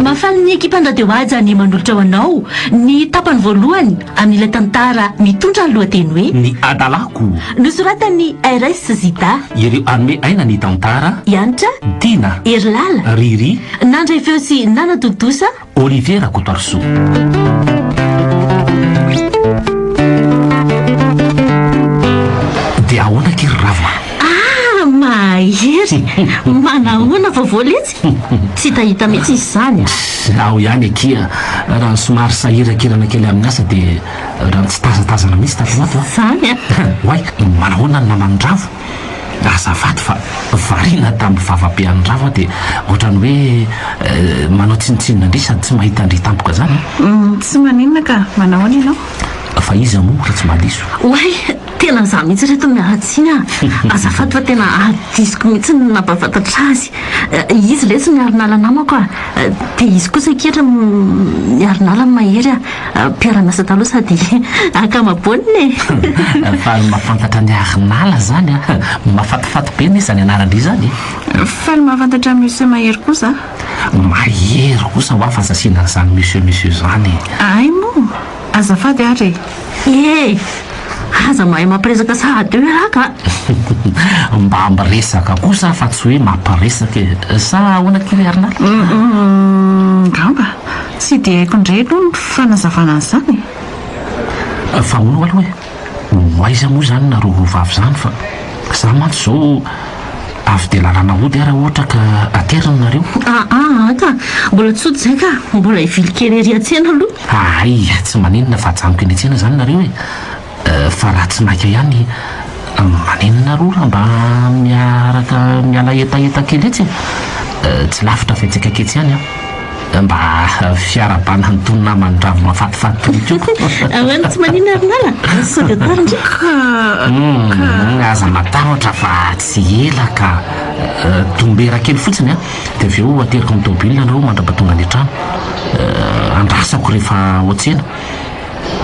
Mahafaly ny ekipan'ny Radio Haja ny manolotra ho anao ny tapany voalohany amin'ilay tantara mitondra ny lohateny hoe. Ny adalako. Nosoratan'i RS Zida. Ireo hanome aina ny tantara. I Hanitra. Dina. Herilala. Riri. Nandray feo sy nanatontosa. Olivier Rakotoarisoa. Dia ahoana akia ry Rava? Ah, mahery! Manahoana vao voaletsy? Tsy hitahita mihitsy izy izany a! Izaho ihany akia, raha somary sahiran-kirana kely amin'ny asa dia raha nitsitazatazana mihitsy tato ho ato a! Izany a! Oay, manahoana ny naman'i Rava? azafady fa variana tamin'ny vavabean'i Rava dia ohatrany hoe manao tsinontsinona indray sady tsy mahita an-dry tampoka izany an! Uhm, tsy maninona ka! Manao ahoana ianao? Fa iza moa raha tsy mba diso? Oay! Tena izaho mihitsy ry reto miala tsiny an! Azafady fa tena adisoko mihitsy ny nampahafantatra azy. Izy lesy miarinala namako an! Dia izy kosa ankehitriny miarinala ny mahery an! Mpiara-miasa taloha sady ankamaboanina e! Faly mahafantatra an'i Arinala izany an! Mahafatifaty be nefa izany anarandry izany e! Faly mahafantatra an'i Monsieur Mahery kosa an! Mahery kosa hoa fa sasiana an'izany Monsieur Monsieur izany e! Ahay moa! Azafady ary e! Ee! Aza mahay mampiresaka sahady eo ialahy ka! Mba miresaka kosa aho fa tsy hoe mampiresaka e! Sa ahoana kay ry Arinala? Hum! Hum! Angamba! Tsy dia haiko indray aloha ny fanazavana an'izany e! Fa hono aloha e! Ho aiza moa izany nareo roa vavy izany fa za mantsy izao avy dia lalana hody ary ohatra ka aterina nareo. Aa aa ka! Mbola tsotra izay ka! Mbola hivily kely ery an-tsena aloha. Ahay tsy maninona fa ajanoko eny an-tsena izany nareo e! Fa raha tsy maika ihany maninona roa raha mba miaraka miala hetaheta kely etsy e? Tsy lavitra avy antsika aketsy ihany an! Mba fiarahabana an'itony naman'i Ravo mafatifaty itony koa! Ahoana tsy maninona ry nala? Sao dia tara ndry ka! Hum, aza matahotra fa tsy ela ka! Dombera kely fotsiny an! Dia avy eo ateriko amin'ny tomobilina nareo mandra-pahatonga any an-trano. Andrasako rehefa ao an-tsena.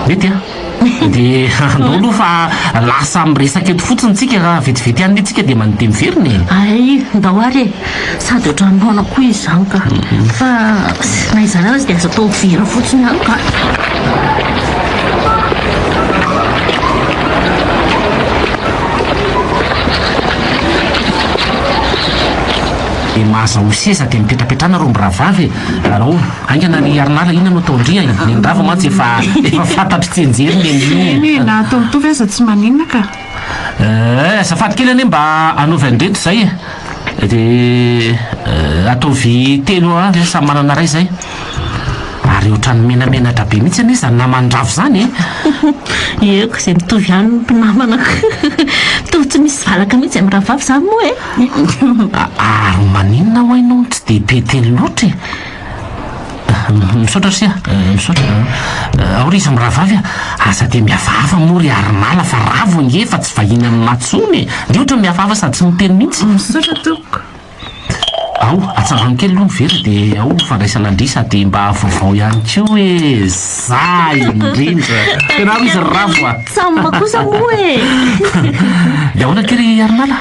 Mety an! Dia andao aloha fa lasa miresaka eto fotsiny tsika raha vetivety any tsika dia mandeha miverina e! Hay, ndao ary e! Sady ohatran'ny noana koa izy izany ka! Fa na izany aza dia aza atao very fotsiny any ka! Aingana ry Harinala inona no ataon-dry a e! Ny an-dra vao mantsy efa efa fantatry tsianjery ny an'io! Tena e! Na atao mitovy aza tsy maninona ka! Ee, azafady kely anie mba anaovy an-dreto izay e! Dia ataovy telo eo ve samy manana iray izay? Ary ohatran'ny menamenatra be mihitsy anie izany naman-dRavo izany e! Ieuh, izay mitovy ihany ny mpinamana ko! Mitovy tsy misy valaka mihitsy amin'ny rahavavy izany moa e! Ary maninona hoy no tsy dia be teny loatra e! Misaotra ry sia, misaotra an! Ao ry izy mirahavavy an! Aza dia mihafahafa moa ry Harinala fa ravo ange fa tsy vahiny amin'i Matsony e! Dia ohatra ny mihafahafa sady tsy miteny mihitsy! Misaotra tompoko! Ao, atsangano kely aloha ny vera dia ao fandraisana an-dry sady mba vaovao ihany koa hoe za indrindra! Tena ao izy ry ravo a! Tsamba kosa moa e! Dia ahoana akia ry Harinala?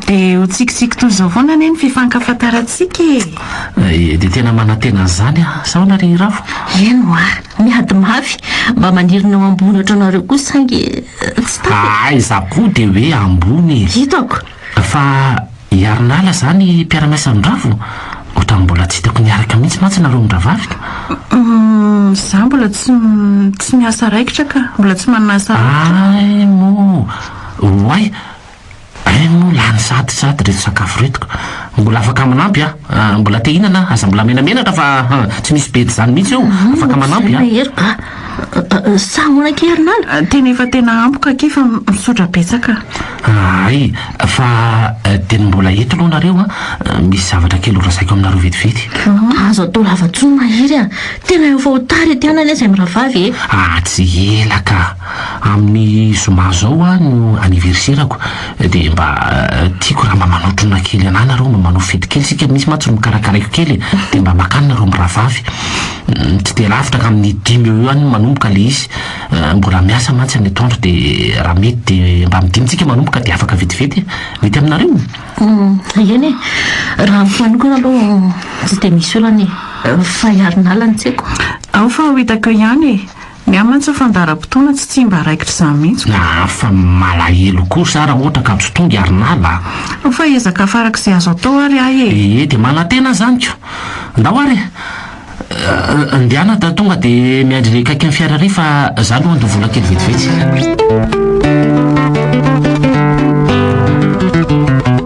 Dia ho tsikitsiky toy izao foana anie ny fifankafantarantsika e! Ee, dia tena manantena an'izany aho. Sa ahoana ry Rafo? Eny hoa, miady mafy. Mba maniry ny ho ambony ohatranareo koa saingy tsy tapaka. Aa, izaho koa dia hoe ambony e! Hitako. Fa hiarin'ala izany mpiara-miasa amin'i Rafo? Ohatran'ny mbola tsy hitako niaraka mihitsy mantsy nareo mirahavavy. Humm, izaho mbola tsy tsy miasa raikitra ka. Mbola tsy manana asa raikitra. Hay moa! Oay! Hay moa lany sahady sahady reto sakafo reto ka! Mbola afaka manampy an! Mbola te hinana an! Aza mbola menamenatra fa an! Tsy misy bedy zany mihitsy eo! Afaka manampy an! Mahery ba! Sa ahoana akia ry nala? Tena efa tena ampy ka akia fa misaotra betsaka! Hay! Fa dia ny mbola eto aloha nareo an! Misy zavatra kely horazaiko aminareo vetivety! Aza atao lava intsony Mahery a! Tena efa ho tara ety hanany an! Izay mirahavavy e! Atsy ela ka! Amin'ny zoma zao aho no anniverserako dia mba tiako raha mba manao trona kely anah nareo mba manao fety kely sika misy mantsy no karakaraiko kely e dia mba makany nareo mirahavavy tsy dia lavitra ka amin'ny dimy eo eo any no manomboka le izy mbola miasa mantsy any atoandro dia raha mety dia mba amin'ny dimy tsika manomboka dia afaka vetivety e mety aminareo? Eny e raha amiko manokana aloha tsy dia misy olana e fa i Harinala no tsy haiko. Ao fa ho hitako eo ihany e. Ny ahy mantsy ny fandaharam-potoana tsy tsy mba raikitra izany mihitsy ko. Afa malahelo kosa ara ohatra ka tsy tonga ary nala a! Fa ezaka afarako izay azo atao ary ahy e! Ee dia manantena izany ko! Ndao ary e! Ndehana da tonga dia miandry ilay kaikin'ny fiara irery fa za aloha handoa vola kely vetivety.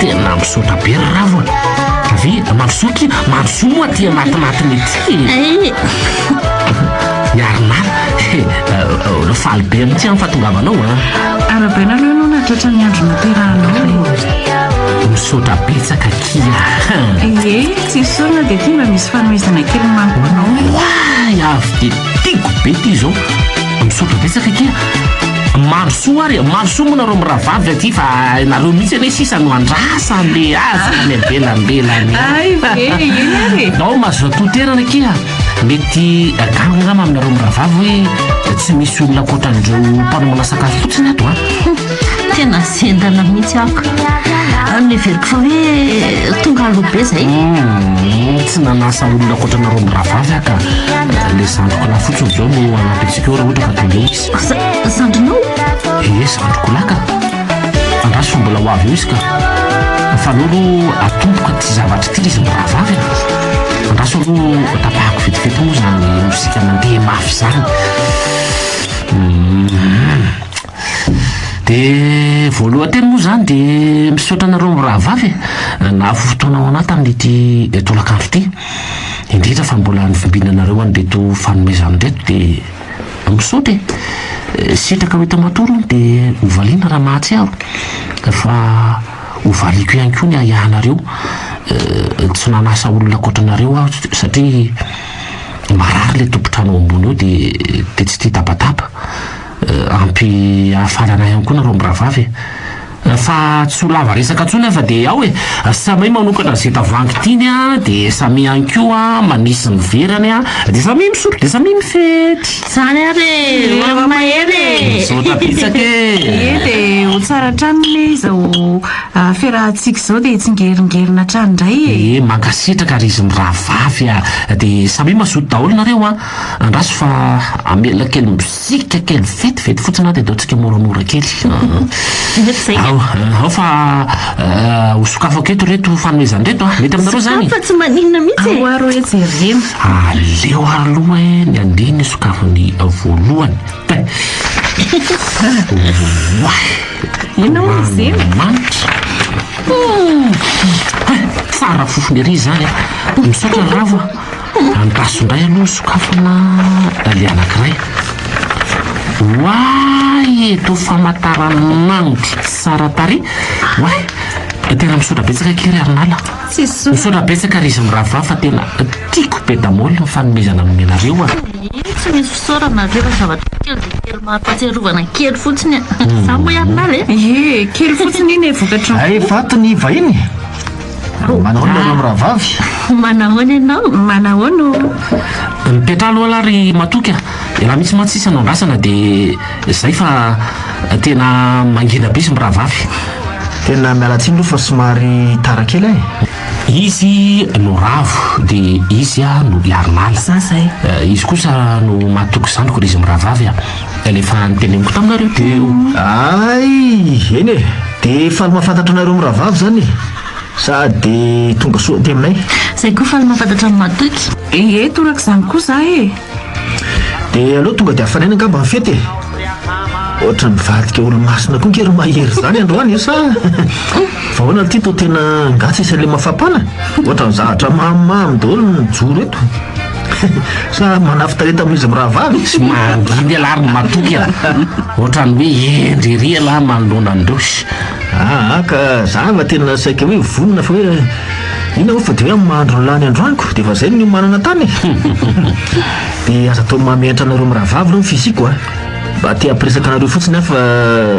Tena misaotra be ry ravo a! Ve mandrosoa ki mandrosoa moa aty anatinatiny ety e! Miary mafy he! Faly be mihitsy aho ny fahatongavanao a! Arabela aloha ianao nahatratra ny andro niterahanao. Misaotra betsaka ki a! Ie, tsy esorina dia ity mba misy fanomezana kely manko ho anao e! Oay! Avy dia tiako be ity izao! Misaotra betsaka akia a! Mandrosoa ary e! Mandrosoa moa nareo mirahavavy aty fa nareo mihitsy anie sisa no andrasa le azy any am-belambelany Ay ve, eny ary e! Nao mazotoa toerana akia mety gaga angamba aminareo mirahavavy hoe tsy misy olona ankoatran'ireo mpanomana sakafo fotsiny ato a! Tena zendana mihitsy aho ka. Ary neveriko fa hoe tonga aloha be izay. Hmm, tsy nanasa olona ankoatra anareo mirahavavy aho ka. Le zandriko lahy fotsiny izao no hanampy antsika eo raha ohatra ka tonga eo izy. Za- Zandrinao? Ie, zandriko lahy ka. Andraso fa mbola ho avy eo izy ka. Fa aleo aloha atomboka ity zavatra ity le izy mirahavavy a. Andraso aloha tapahako vetivety moa izany mozika mandeha mafy izany. Hmm. Dia voalohan-teny moa izany dia misaotra anareo mirahavavy e, nahafoy fotoana ho anah tamin'ity tolakandro ity. Indrindra fa mbola novimbina anareo an'ireto fanomezana ireto dia misaotra e. Sitraka ho hita matory hono dia ho valiana raha mahatsiaro. Fa ho valiako ihany koa ny ahiahinareo. Tsy nanasa olona ankoatra anareo aho satria marary ilay tompon-trano ao ambony ao dia tsy tia tabataba. Ampy hafarana ihany koa nareo mirahavavy e! Fa tsy ho lava resaka intsony aho fa dia ao e! Samia manokatra izay tavangy tiany an, dia samia ihany koa manisy ny verany an, dia samia misotro dia samia mifety! Zany ary e! Mihaona mahery e! Misaotra betsaka e! Ie dia ho tsara hatrany ne izao fiarahantsika izao dia hitsingeringerina hatrany indray e! Ie mankasitraka ry izy mirahavavy a! Dia samia mazoto daholo nareo an! Andraso fa hamela kely mibs. Tsika kely vetivety fotsiny ary dia ataontsika moramora kely. Ao, ao fa ho sokafako eto ireto fanomezana ireto an! Mety aminareo izany? Sokafa tsy maninona mihitsy e! Ao ary hoe jerena. Aleo aloha ny andeha ny sokafy ny voalohany. Oay! Ianao hono Zema? Manitra! Tsara fofona ery izany an! Misaotra Ravo a! Andraso indray aloha ny sokafana dahlia anankiray. Oay e! Toa famantaranandro tsara tarehy. Oay! Tena misaotra betsaka akia ry Harinala. Misaotra betsaka ry izy mirahavavy fa tena tiako be damaoly ny fanomezana nomenareo a! Tsy misy fisaorana akia fa zavatra kely dia kely mampahatsiarovana kely fotsiny a! Zany moa i Harinala e! Ie, kely fotsiny iny e, vokatry ny. Hay vato ny vahiny e! Manahoana ianareo mirahavavy? Manahoana ianao? Manahoana o? Mipetraha aloha lah ry matoky a! Elah mihitsy mantsy sisa no andrasana dia zay fa tena mangina be izy mirahavavy. Tena miala tsiny aloha fa somary tara kely eh! Izy no ravo dia izy no hiarinala. Za zay. Izy kosa no matoky zandriko ry izy mirahavavy a! Ela efa niteneniko taminareo teo. Ay, eny e, dia faly mahafantatra anareo mirahavavy izany e. Sady tonga soa aty aminay. Izay koa faly mahafantatra an'i Matoky. Ee, toraka izany koa izaho e. Dia aleo tonga dia hafanaina angamba ny fety e. Ohatra nivadika olo-masina koa ange ry Mahery izany androany e, sa fa ahoana ity toa tena ngah tsisy aleha mafapana? Ohatran'ny zavatra mamimamy daholo no mijoro eto. Sa manafin-tarehy tamin'izy mirahavavy izy? Manginy ialahy ary matoky e! Ohatran'ny hoe hendry ery ialahy manoloana an'i Rossy. Aa, ka za va tena saika hoe vonona fa hoe inona moa fa dia hoe amin'ny maha-andro ny lany androany ko dia efa izay ny niomanana tany e! Dia aza atao maha-mihaintra anareo mirahavavy ireo ny fisiako a! Mba te-hampiresaka anareo fotsiny aho fa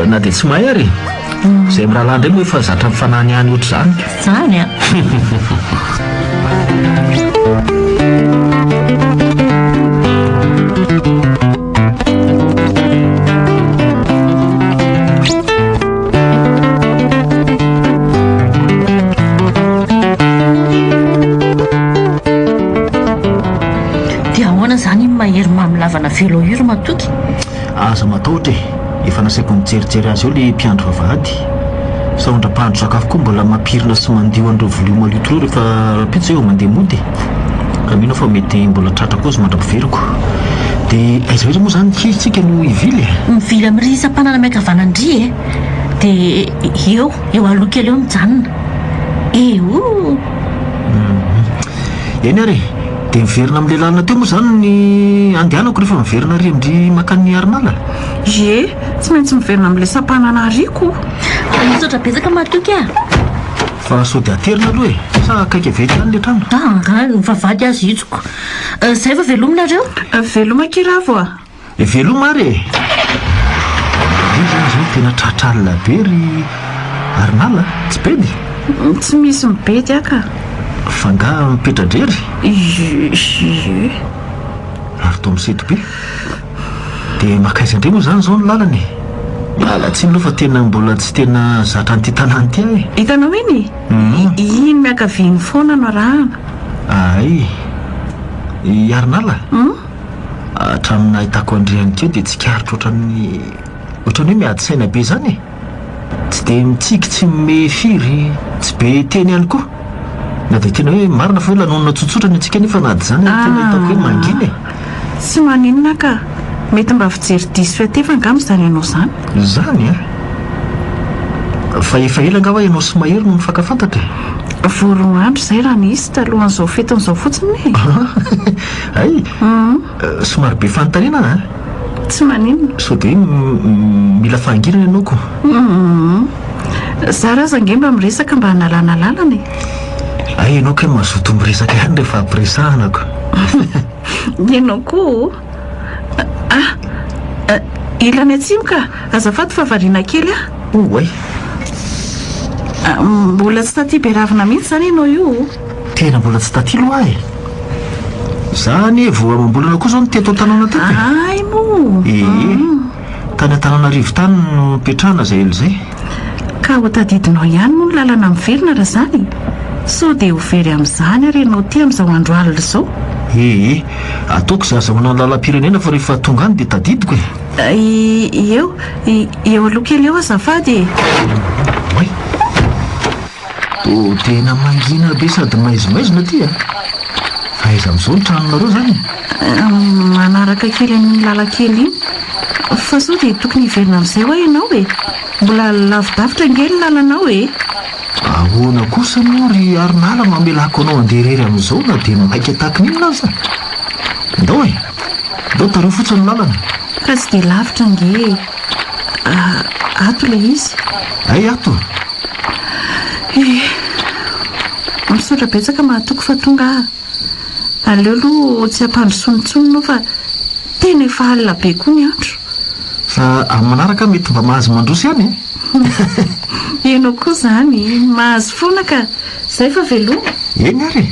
na dia tsy mahay ary e! Izay mirahalahy indray moa efa zatra mifananihany ohatr'izany ka. Izany an! Dia ahoana izany iny mahery mamy lavana velo io ry Matoky? Aza matahotra e! Efa nasaiko nijerijery azy eo ilay mpiandry vavahady. Sahondra mpahandro sakafo koa mbola mampirina sy mandio an'ireo vilia malio toloha rehefa rahampitso hoe mandeha mody e! Ka mino aho fa mety mbola tratra koa izy mandra-piveriko. Dia aiza indrindra moa izany kay isika no hivily e? Mivily amin'irỳ isam-panana miankavanana irỳ e! Dia eo, eo aloha kely eo mijanona. Eeoo! Eny ary e! Dia miverina amin'ilay lalana teo moa izany ny andehanako rehefa miverina àry amin-dry mankany Miarinala? Ie, tsy maintsy miverina amin'ilay sampanana ariako. Misaotra betsaka matoky a! Fa sao dia aterina aloha e! Sa akaiky avy eo ihany ilay trano? Ah, angaha mivavahady aza hitsiko. Izay fa veloma nareo? Veloma kely ravo a! Eh, veloma ary e! Ry zany izao tena tratra alina be ry Arinala a! Tsy bedy? Tsy misy mibedy aho ka! Fa angaha mipetra-drery? Ie, ie. Ary toa misento be? Dia makaiza indray moa izany izao ny lalana e! Miala tsiny aloha fa tena mbola tsy tena zatra an'ity tanàna ity aho e! Hitanao iny e! Iny miankavia iny foana no arahana. Ahay. I Harinala? Hatramin'ny nahitako an-dry Henika eo dia tsikaritro ohatran'ny ohatran'ny hoe miady saina be izany e! Tsy dia mitsiky tsy mimehy firy, tsy be teny ihany koa. Na dia tena hoe marina fa hoe lanonana tsotsotra ny antsika nefa na dia izany ary tena hitako hoe mangina e! Tsy maninona ka! Mety mba fijery diso fiatefa angamba izany ianao izany? Izany an! Fa efa ela angamba ianao sy Mahery no nifankafantatra e! Vao roa andro izay raha nisy, talohan'izao fetin'izao fotsiny e! Hay! Somary be fanontaniana an! Tsy maninona. Sao dia mila fahangirana ianao ko? Humm. Zara aza ange mba miresaka mba hanalana lalana e! Hay ianao kay mazotoa miresaka ihany rehefa ampiresahana ko! Ianao koa o! Ah! Ilany atsimo ka! Azafady fa variana kely ah! Oay! Mbola tsy taty beravina mihitsy izany ianao io o! Tena mbola tsy taty loa aho e! Za anie vao amam-bolana koa zao no teto an-tanàna teto e. Ahay moa! Ee, tany Antananarivo tany no nipetrahana izay ela izay. Ka ho tadidinao ihany moa ny lalana miverina raha izany e! Sao dia ho very amin'izany ary ianao ity amin'izao andro alina izao? Ee, ataoko izay azahoana ny lalam-pirenena fa rehefa tonga any dia tadidiko e! Eo, eo aloha kely eo azafady e! Oay! Oh tena mangina be sady maizimaizina aty a! Fa aiza amin'izao ny tranonareo izany e? Manaraka kely amin'iny lalan-kely iny. Fa sao dia tokony hiverina amin'izay hoa ianao e? Mbola lavidavitra ange ny lalanao e! Ahoana kosa moa ry Harinala no hamelako anao handeha irery amin'izao na dia maika tahaka ny inona aza? Ndao e! Ndao tareo fotsiny ny lalana. Fa tsy dia lavitra ange e! Ah, ato ilay izy. Hay ato. Eh, misaotra betsaka mahatoky fa tonga aho. Aleo aloha tsy ampandrosoana intsony no fa tena efa alina be koa ny andro. Fa amin'ny manaraka aho mety mba mahazo mandroso ihany e. Ianao koa izany, mahazo foana ka. Izay fa veloma. Eny ary e.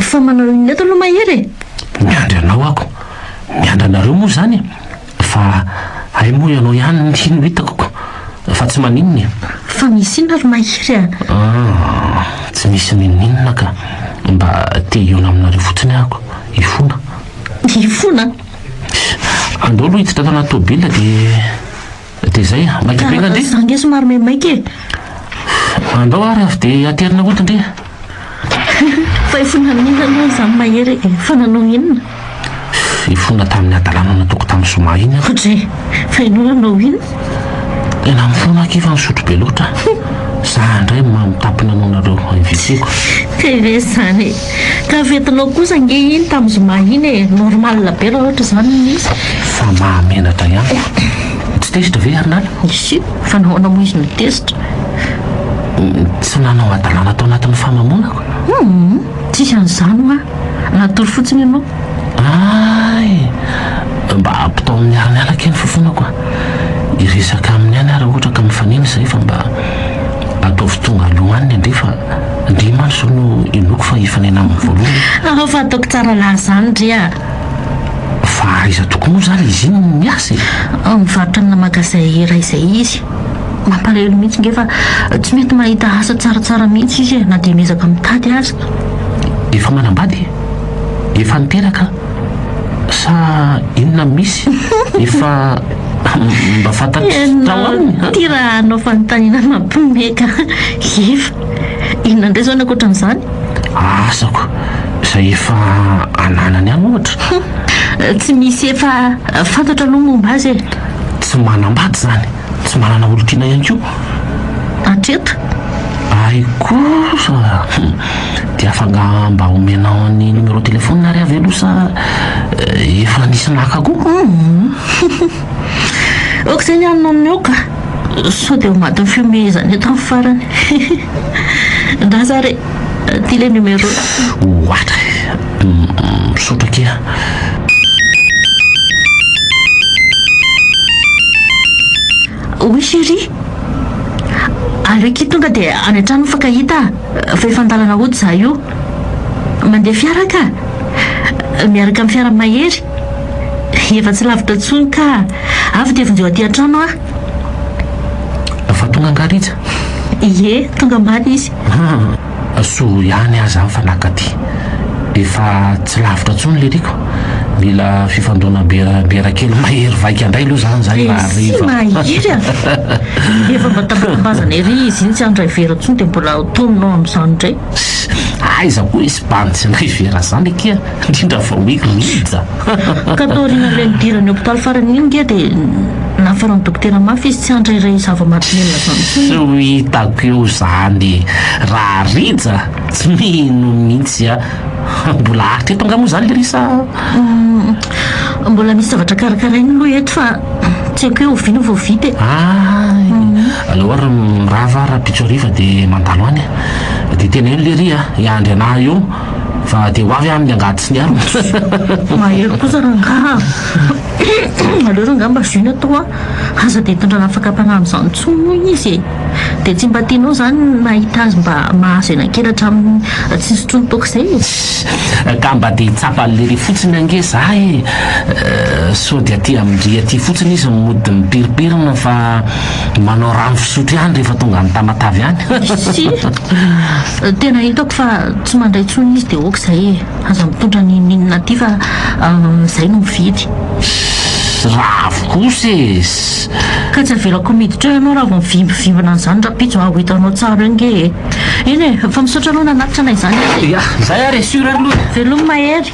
Fa manao inona eto aloha Mahery e? Miandry anao ako. Miandry anareo moa izany e! Fa hay moa ianao ihany no hitako ko! Fa tsy maninona e! Fa misy inona ry Mahery a? Ah! Tsy misy n'inon'inona ka! Mba te hihaona aminareo fotsiny ako, hifona. Hifona? Andao aloha hiditra tao anaty tomobilina dia. Dia izay, maika be ngandry? Za nge somary maimaika e! Andao ary avy dia haterina hody ndry e! Fa ifona amin'inona aloha izany mahery e? Fa nanao inona? Ifona tamin'ny hadalana nataoko tamin'i Zoma iny aho. Kodre! Fa ianao nanao inona? Tena mifona aho k'efa nisotro be loatra. Za indray mamitapy nanao anareo invité-ko. Tena izany e! Tafetinao kosa ange iny tam zoma iny e! Normal be raha ohatra izany no nisy. Fa mahamenatra ihany fa. Tsy tezitra ve ary nala? Isi, fa nahoana moa izy no tezitra? Tsy nanao hadalana tao anatin'ny famamonako. Humm, tsisy an'izany hoa. Natory fotsiny ianao. Ay! Mba ampitao amin'ny miaramiala kely fofonako a! Hiresaka aminy any aho raha ohatra ka mifanena izay fa mba ataovy tonga aloha any ny andeha fa ndry mantsy izao no inoako fa hifanena aminy voalohany. Hahao fa ataoko tsara lahy izany ndry a! Fa aiza tokoa moa izany izy iny no miasa e? Mivarotra amina magazay iray izay izy. Mampalahelo mihitsy nge fa tsy mety mahita asa tsaratsara mihitsy izy e na dia miezaka mitady aza. Efa manambady e? efa niteraka sa inona misy efa mba fantatry tao aminy ha? Ty raha hanao fanontaniana mampiomehy ka efa inona indray izao ny ankoatran'izany? Asako izay efa ananany ihany ohatra. Tsy misy efa fantatra aloha momba azy e. Tsy manambady izany. Tsy manana olon-tiana ihany koa hatreto. Ahy kosa hum, dia afanga mba omenao ny numéro téléphone ary avy aloha sa efa nisy naka koa? Hum, ok zay ny any no omeo ka, sao dia ao anatin'ny fihomehezana eto ny farany. Ndraza re, ty le numéro. Ohatra e! Misaotra akia. Oui chérie. Aleo akia tonga dia any an-trano mifankahita fa efa an-dalana hody izaho io. Mandeha fiara aho kah. Miaraka amin'ny fiaran'i Mahery. Efa tsy lavitra intsony kah. Avy dia vonjeo aty an-trano aho. Efa tonga angaha Rija? Ie, tonga omaly izy. Asoro ihany aza aho fa naka aty. Efa tsy lavitra intsony le riko. Mila fifandona biera kely mahery vaika indray aloha izany izany na hariva. Mahery an! Efa mba tambatambazana ery izy iny tsy handray vera intsony dia mbola tonina ao amin'izany indray. Aiza koa hisy bandy tsy handray vera izany akia. Indrindra fa hoe Rija. Ka taoriana ilay nidiran'ny hopitaly farany iny nge dia nafaran'ny dokotera mafy izy tsy hantra iray zava-mahadomelina izany intsony. Tsy ho hitako eo izany raha Rija, tsy mino mihitsy aho. Mbola haritra eto angaha moa izany Lily sa? Mbola misy zavatra karakaraina aloha eto fa tsy haiko hoe oviana vao vita e. Hay, aleo ary mirava ary rahampitso hariva dia mandalo any. Dia teneno Lily a, hiandry anah eo. fa dia ho avy any ny angady sy ny anana. Mahery kosa rangaha a! Aleo rangaha mba zony atao a! Aza dia hitondra lafaka mpanahy amin'izany intsony hoy izy e! Dia tsy mba tianao izany ny mahita azy mba mahazo ena kely hatramin'ny tsy nisy intsony toaka izay e! Ka mba dia hitsapa an'i Lery fotsiny ange za e! Sao dia aty amin-dry aty fotsiny izy no mody mipirimpirina fa manao rano fisotro ihany rehefa tonga any Tamatave any. Isi! Tena hitako fa tsy mandray tsony izy de ok zay e! Aza mitondra ny minina aty fa zay no mividy. Ravo kosa e! Ka tsy avelako miditra eo ianao raha vao mivimbivimbina an'izany rahampitso aho hitanao tsara eo nge e! Eny e! Fa misaotra aloha nanatitra anay izany e! Yah! Zay ary e! Sur ary loha e! Veloma Hery!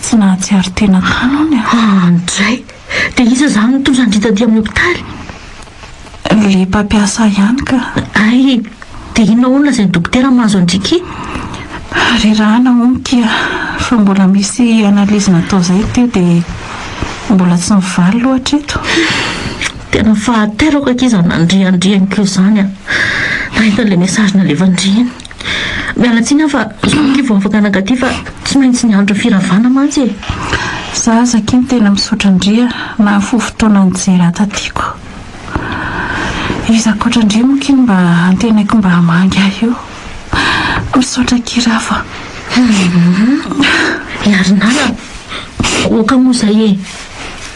Tsy nahatsiaro tena tany hono e. Andray! Dia iza izany no tojo an-dry taty amin'ny hopitaly? Ilay mpampiasa ihany ka. Hay! Dia inona hono lazain'ny dokotera mahazo an-dry ky? Rerahana hono ky a! Fa mbola misy analyse natao izay teo dia mbola tsy mivaly loha hatreto. Tena fahateraka ky izany nandria an-dry an'iko izany a! Nahita an'ilay message nalefan'dry iny. Miala tsiny aho fa sorry ki vao afaka naka ty fa tsy maintsy niandry ny firavana mantsy e! Za aza ki tena misaotra ndry a nahafoy fotoana nijery ahy taty ko. Iza ankoatra ndry moa ki no mba antenaiko mba hamangy ahy io? Misaotra ki Rafo a! Hum Ry Nala a! Oka moa zay e!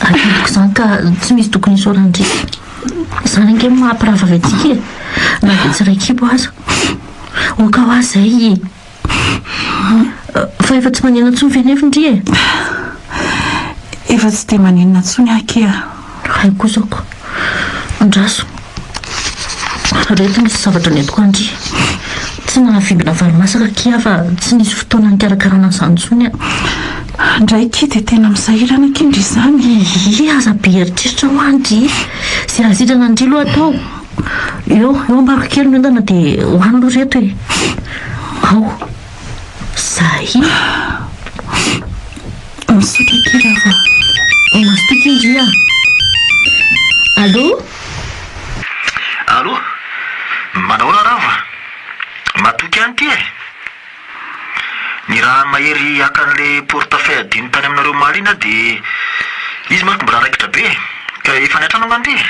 Adidiko zany ka tsy misy tokony isaoran-dry. Izany ange no mahampirahavavy antsika e! Na dia tsy iray kibo aza. Oka hoa izay e! Fa efa tsy maninona intsony ve nefa indry e? Efa tsy dia maninona intsony aho akia a! Hay kosa ko! Andraso! Reto misy zavatra nentiko an-dry. Tsy nahavimbina varimasaka akia aho fa tsy nisy fotoana nikarakarana an'izany intsony aho. Andry akia dia tena misahirana akia ndry izany. Iiiy aza be eritreritra hoa ndry e! Ze azo hitrana ndry loha atao. Eo, eo ambako kely ny ondana dia ho any loha reto e! Ao! Zahii! Misaotra akia Rava a! Mazotoa akia ndry a! Allo? Allo! Manahoana Rava? Matoky any ity e! Ny raha ny mahery haka an'le porte fay adino tany aminareo omaly iny aho dia izy manko mbola raikitra be e! Ka efa any an-trano angamba izy?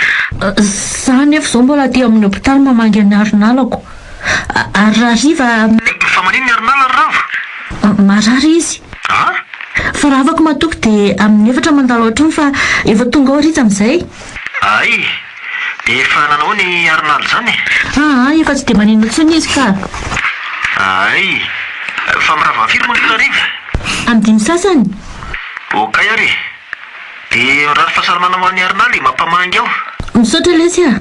Za anefa izao mbola aty amin'ny hopitaly mamangy an'i Harinalako. Ary rahariva. Fa maninona i Harinala ry rava? Marary izy. An? Fa rahavako matoky dia amin'ny efatra mandalo ao an-trano fa efa tonga ao Rija amin'izay. Ay! Dia efa nanao ny aron'ady izany e! Aa! Efa tsy dia maninona intsony izy ka! Ay! Fa mirava am-firy moa ny hariva? Am dimy sasany! Okay ary! Dia mirary fahasalamana ho an'i Arnaly e! Mampamangy aho! Misaotra lesy a!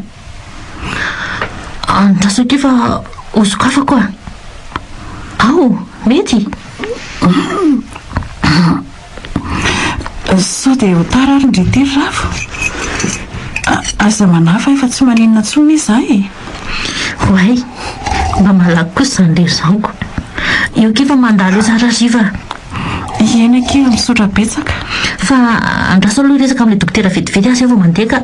Andraso k'efa ho sokafako a! Ao! Mety? Sao dia ho tara ary ndry tery ravo? Aza manahy fa efa tsy maninona intsony ve izaho e? Oay! Mba malaky kosa izany ilay zaniko. Eo kee fa mandalo etsy ary atsy fa. Ieny akia, misaotra betsaka. Fa andraso aloha resaka amin'ilay dokotera vetivety aho izay vao mandeha ka.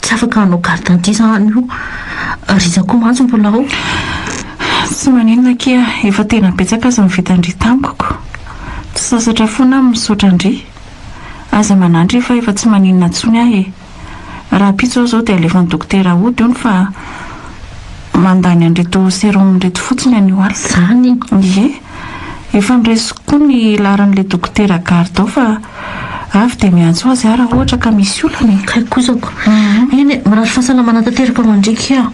Tsy afaka hanao carte d'identité izany io ry zakou mantsy mbola ao. Tsy maninona akia, efa tena betsaka aza ny vitan-dry tamiko. Tsy sasatra foana aho misaotra an-dry. Aza manano ry fa efa tsy maninona intsony aho e. Rahampitso aho izao dia alefan'ny dokotera hody hono fa mandany an'ireto serum ireto fotsiny anio alina. Izany? Ie. Efa noraisiko koa ny laharan'ilay dokotera Gardao fa avy dia miantso azy aho raha ohatra ka misy olana e. Kay kozako. Eny e, mirary fahasalamana tanteraka ho an-driky aho.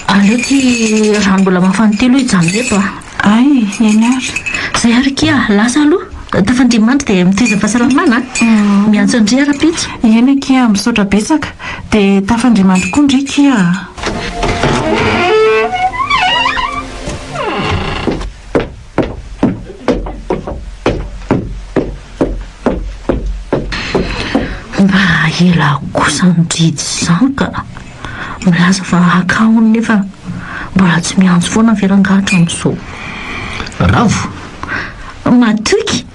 Aleo ity rano mbola mafana ity aloha hijanona eto a! Hay, eny ary. Izay ary ky a! Lasa aloha. Tafandria mandry dia mitaiza fahasalamana a! Miantso an-dry aho rahampitso. Eny akia a! Misaotra betsaka. Dia tafandria mandry koa ndry ky a! Mba ela kosa ny didy izany ka! Milaza fa haka hono nefa mbola tsy miantso foana ve rangahy hatramin'izao? Ravo! Matoky!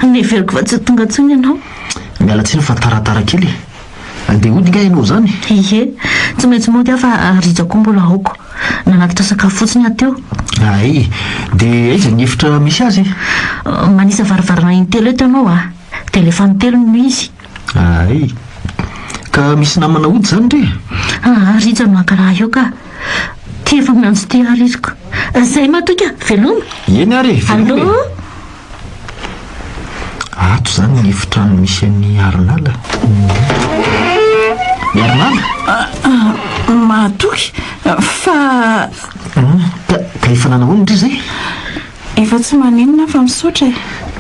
Neveriko fa tsy ho tonga intsony ianao. Miala tsiny fa taratara kely e! Andeha hody kay ianao izany? Ihe, tsy maintsy mody aho fa rija koa mbola aoka. Nanatitra sakafo fotsiny aho teo. Hay, dia aiza ny efitra misy azy? Manisa varavarana intelo eto ianao a! Telefano telo no izy. Hay. Ka misy namana hody izany re? Aa, rija no hankalaha eo ka! Ty efa miantso ty ary iriko. Izay matoa ka! Veloma! Eny ary e! Veloma e! Allo! Ato izany ny efitrano misy an'i Harinala. I Harinala? Mahatoky fa... Ka ka efa nanao ahoana indry izay? Efa tsy maninona fa misaotra e.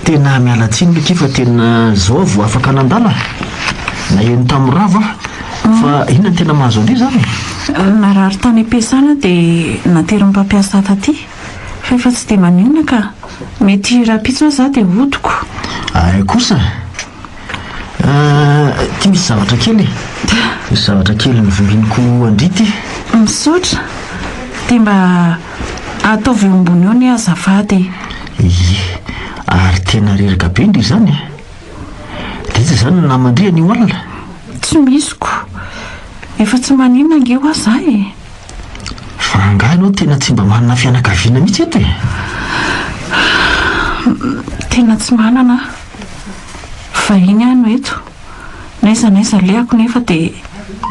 Tena miala tsiny Micky fa tena izao aho vao afaka nandala. Naheno tamin'i Rava aho. Fa inona no tena mahazo an'io izany? Narary tany am-piasana dia naterin'ny mpampiasa taty. Fa efa tsy dia maninona ka. Mety rahampitso aza dia hodiko. Ahy kosa ah, ity misy zavatra kely e. Misy zavatra kely novimbiniko an-dry ity. Misaotra. Dia mba ataovy eo ambony eo anie azafady e. Ie, ary tena reraka be ndry izany e. Dia iza izany no naman-dry anio alina? Tsy misy ko. Efa tsy maninona ange hoa za e. Fa angaha ianao tena tsy mba manana fianakaviana mihitsy eto e? Tena tsy manana aho. Vahiny aho no eto. N'aiza n'aiza alehako nefa dia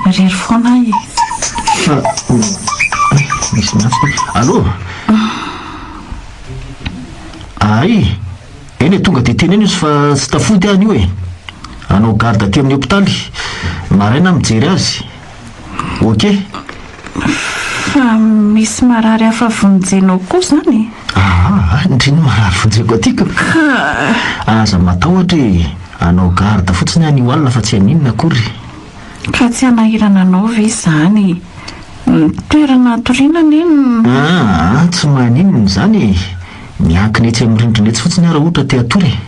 irery foana aho e. Fa misy miantso ty. Allo! Ahay! Eny e, tonga dia teneno izy fa tsy tafody aho anio e. Hanao garde aty amin'ny hopitaly. Maraina aho mijery azy. Ok. Fa misy marary hafa vonjenao koa izany e? Aa, ndry ny marary vonjeko aty ka! Ka. Aza matahotra e! Anao garde fotsiny aho anio alina fa tsy haninona akory. Ka tsy hanahirana anao ve izany? Ny toerana hatoriana anie no. Aa, tsy maninona izany e! Miankina etsy amin'ny rindrina etsy fotsiny aho raha ohatra te-hatory e!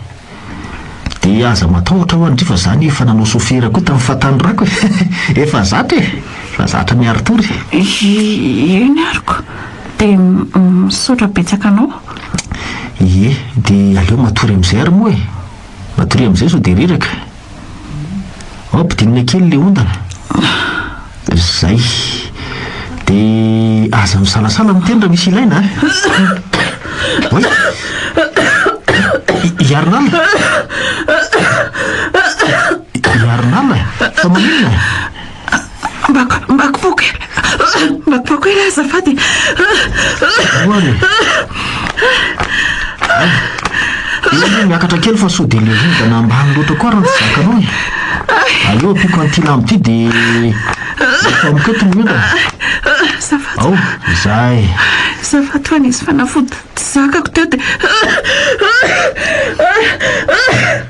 Dia aza matahotra ho'a ndry fa za anie efa nanao sofera koa tamin'ny fahatanorako e! Efa zatra e! Efa zatra miary tour e! Ie ny ariko! Dia misaotra betsaka anao. Ie, dia aleo matory amin'izay ary moa e! Matoria amin'izay sao dia reraka. Ampidinina kely le ondana. Zay. De aza misalasala miteny raha misy ilaina a! Oay! I Hiarinala! Hiarinala! Fa maninona? Mba kipoako e! Mba kipoako ela azafady e! Ahoana e? Eny, miakatra kely fa sao dia le hodana ambany loatra koa raha tsy zakanao e! Aleo ampiako an'ity lamba ity dia efa amiko eto ny hodana. Azafady. Ao, izaho e! Azafady fa nisy fanafody zakako teo dia.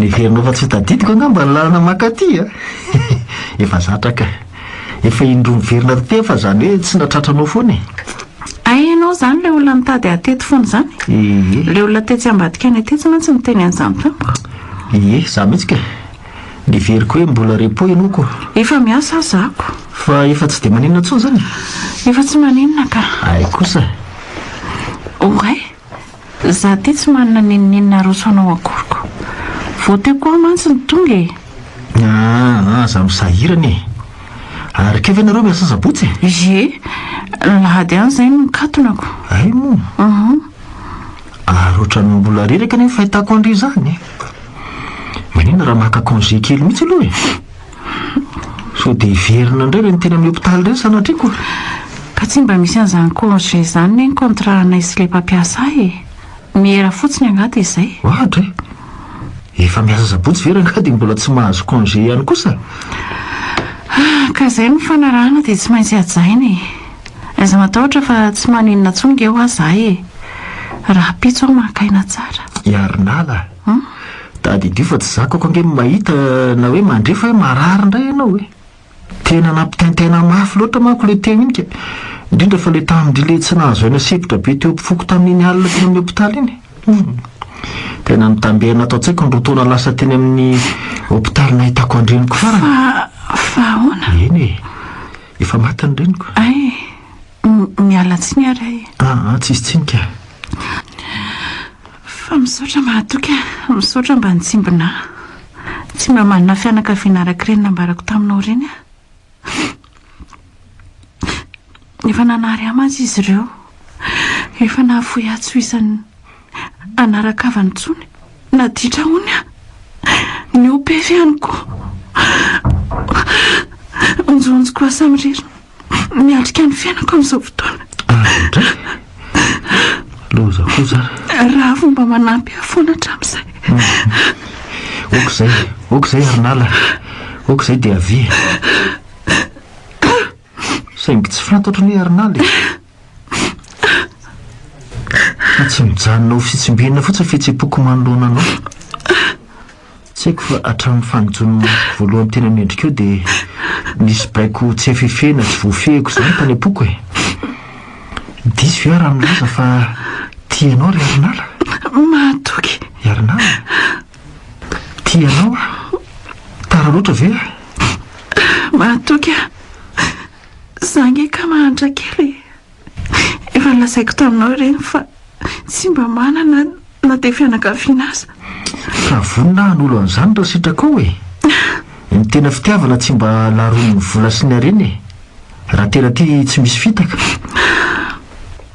Heverinao fa tsy tadidiko angamba ny lalana maka aty a! Efa zatra kay! Efa indroa miverina aty aho fa izany hoe tsy na tratranao foana e! Hay ianao izany ilay olona nitady ahy teto foana izany? Ie. Ilay olona tetsy ambadika anay tetsy mantsy niteny an'izany tamiko. Ie, izaho mihitsy kay! Niheveriko hoe mbola repos ianao ko! Efa miasa aho izaho ko! Fa efa tsy dia maninona intsony izany e! Efa tsy maninona ka! Hay kosa! Oray! Za ty tsy manana n'inon'inona aroso anao akoriko. Vao teo koa aho mantsy no tonga e! Aah ah, za misahirana e! Ary kay ve nareo miasa sabotsy e? Ie, lahady any zay no nikatonako. Hay moa! Uhum. Ary ohatran'ny mbola reraka anie ny fahitako an'ry zany e! Maninona raha maka congé kely mihitsy aloha e! Sao dia hiverina indray ireny teny amin'ny hopitaly ireny sanatria koa e! Ka tsy mba misy an'izany congé izany ve ny contrat anay sy ilay mpampiasa ahy e! Miera fotsiny angaha dia izay? Ohatra e! Efa miasa sabotsy ve rangahy dia mbola tsy mahazo congé ihany kosa e! Ka izay no nifanarahana dia tsy maintsy hajaina e! Aiza matahotra fa tsy maninona intsony nge hoa izahay e! Rahampitso aho maka aina tsara. I Harinala. Humm, tadidio fa tsy zakako ange ny mahita na hoe mandre fa hoe marary indray ianao e! Tena nampitaintaina mafy loatra manko ilay teo iny ka! Indrindra fa ilay tamin-dry ilay tsy nahazo aina sepotra be teo am-pofoko tamin'iny alina teny amin'ny hopitaly iny! Humm! Tena nitamberina ato an-tsaiko ny roa taona lasa teny amin'ny hopitaly nahitako an-dreniko farany! Fa, fa ahoana? Eny e! Efa maty ny reniko! Ay! Miala tsiny ary ay. Ah ah, tsisy tsiny ka. Fa misaotra mahatoky a. Misaotra mba nitsimbinà. Tsy mba manana fianakaviana araka ireny nambarako taminao ireny aho. Efa nanary ahy mantsy izy ireo. Efa nahafoy ahy tsy ho isan'ny anaran-kavana intsony. Naditra hono aho. Nihoa-pefy ihany koa. Onjohonjoko lasa mirirona. Miatrika ny fiainako amin'izao fotoana. Loza koa zany. Raha vao mba manampy ahy foana hatramin'izay. Ok zay, ok zay ary nala. Ok zay dia avia. Saingy tsy fantatro ny hoe ary nala e. Fa tsy mijanona ho fitsimbinina fotsiny fihetsem-poko manoloana anao. Tsy haiko fa hatramin'ny fanijon'ny masoko voalohany teny amin'ny endrikao dia nisy baiko tsy efefena tsy voafehiko izany tany am-poko e! Diso ve aho raha milaza fa tia anao ry Harinala? Mahatoky! I Harinala, Tia anao aho. Tara loatra ve aho? Mahatoky aho. Za nge ka mahantra kely e! Efa nolazaiko taminao ireny fa tsy mba manana na dia fianakaviana aza. Fa vonona hanolo an'izany raha sitrakao e! Ny tena fitiavana tsy mba laron'ny vola sy ny harena e! Raha tena tia tsy misy fitaka.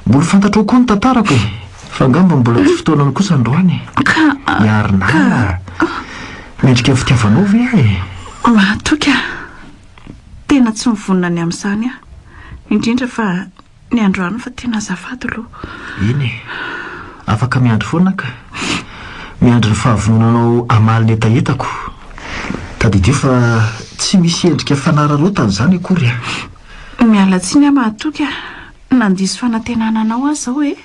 Mbola fantatrao koa ny tantarako e! Fa angamba mbola tsy fotoanany kosa androany e! Ka, Hiarina ka. Mendrika ny fitiavanao ve aho e? Matoky aho. Tena tsy mivonona ny amin'izany aho. Indrindra fa ny androany fa tena azafady lo. Eny e. Afaka miandry foana ka. Miandry ny fahavononanao hamaly ny hetahetako. Tadidio fa tsy misy endrika fanararaotana izany akory an. Miala tsiny aho mahatoky a. Nandiso fanantenana anao aho izao e.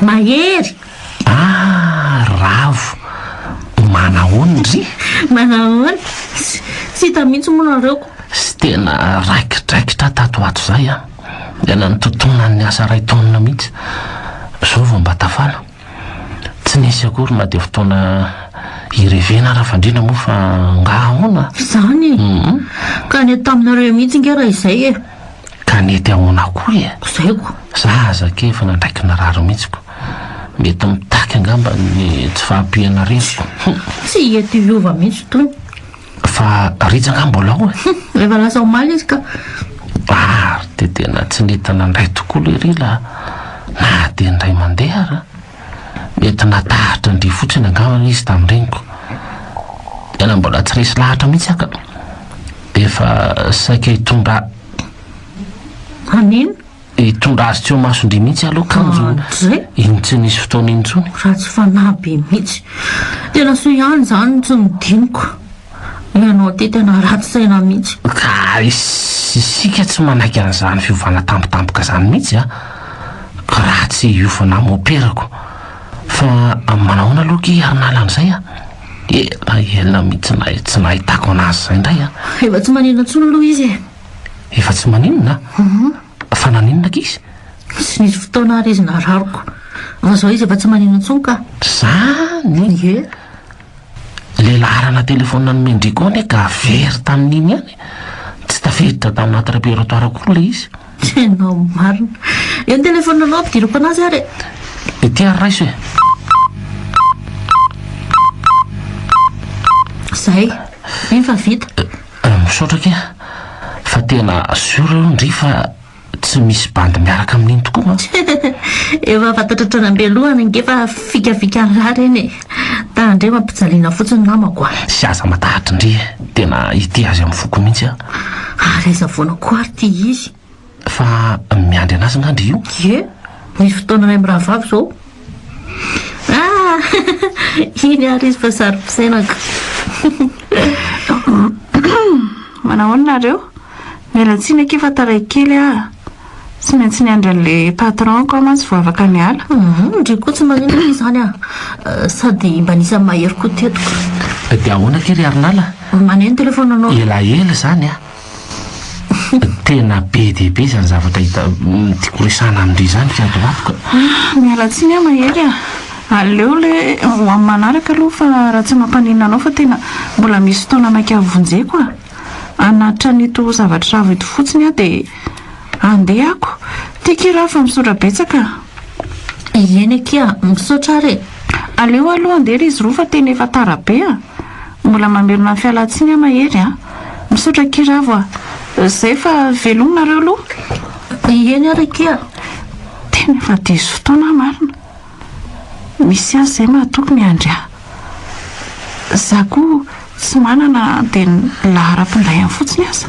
Mahery! Ah! Ravo! Manahoana ry? Manahoana? Tsy hita mihitsy moa nareo ko! Tsy tena raikidraikitra aho tato ho ato izay an! Dia nanontotonan'ny asa iray taonina mihitsy. Izao vao mba tafala. Tsy nisy akory na dia fotoana hirevena Rafandriana moa fa angaha ahoana? Izany e! Ka nety taminareo mihitsy ange raha izay e! Ka nety ahoana koa e? Zay ko! Za aza kay efa nandraiky narary mihitsy ko! Mety mitaky angamba ny tsy fahampianarenako! Hum! Tsy eto hiova mihitsy tony! Fa rija nga mbola ao e? Hum! Efa lasa omaly izy ka! Ary dia tena tsy nety nandray tokoa lery la! Na dia indray mandeha ara! Mety natahatra an-dry fotsiny angambany izy tamin'ny reniko. Tena mbola tsy resy lahatra mihitsy aho ka. Efa saika hitondra. An'inona? Hitondra azy tsy ho mason-dry mihitsy aloha kanjo iny tsy nisy fotoana iny intsony. Ratsy fanahy be mihitsy. Tena soa ihany izany no tsy nodiniko. Ianao ty tena ratsy saina mihitsy. Ka isika tsy manaiky an'izany fiovana tampotampoka izany mihitsy a! Ratsy hiofana moperako. Fa manahoana aloha ki ary nala an'izay a! Ela ela mihitsy nahay tsy nahitako an'azy izay indray a! Efa tsy maninona intsony aloha izy e! Efa tsy maninona? Fa naninona ki izy? Tsy nisy fotoana ary izy nararoko. Fa izao izy efa tsy maninona intsony ka! Izany? Ie! Ilay laharana telefaonina nomen-dry koa anie ka very tamin'iny ihany e! Tsy tafiditra tao anaty repertoire akory ilay izy. Tena marina. Eo ny telefaoninanao ampidiriko anazy ary e! Ity ary raiso e! Izay. Mino fa vita. Misaotra akia. Fa tena sûr io ndry fa. Tsy misy bandy miaraka amin'iny tokoa an! Efa fantatra hatrany am-beloha any ange fa fikafikan'ny lahy ireny e! Tahan-dry eo ampijaliana fotsiny namako a! Tsy aza matahatry ndry e! Tena hitia azy amin'ny foko mihitsy aho! Ary aiza foana koa ary ity izy? Fa miandry anazy nga ndry io? Ie, misy fotoana iray mirahavavy izao. Ah! Iny ary izy fa saro-pisainako. Manahoana nareo? Miala tsiny akia fa taray kely ah. Tsy maintsy niandry an'le patron-ko aho mantsy vao afaka niala. Mhm, ndry koa tsy maninona akia izany ah. Eh, sady mba nisy an'i Mahery koa teto ka. Dia ahoana aty ry Harinala? Maneno telefaonanao. Elaela izany ah. Tena be dia be izany zavatra hita tiako resahana amin-dry izany ry ato ato ka. Miala tsiny aho Mahery a! Aleo le ho amin'ny manaraka aloha fa raha tsy mampaninona anao fa tena mbola misy fotoana maika havonjeko a! Hanatitra an'ito zavatra ravo ito fotsiny aho dia handeha ako. Tiako i Rafy fa misaotra betsaka a! Ieny akia, misaotra ary e! Aleo aloha handeha ry izy roa fa tena efa tara be a! Mbola mamelona ny fialantsiny aho mahery a! Misaotra akia Ravo a! Zay fa veloma nareo aloha! Ieny ary akia! Tena efa diso fotoana aho marina! Misy azy zay mahatoky miandry ahy! Za koa tsy manana dia ny laharam-pindaihany fotsiny aza!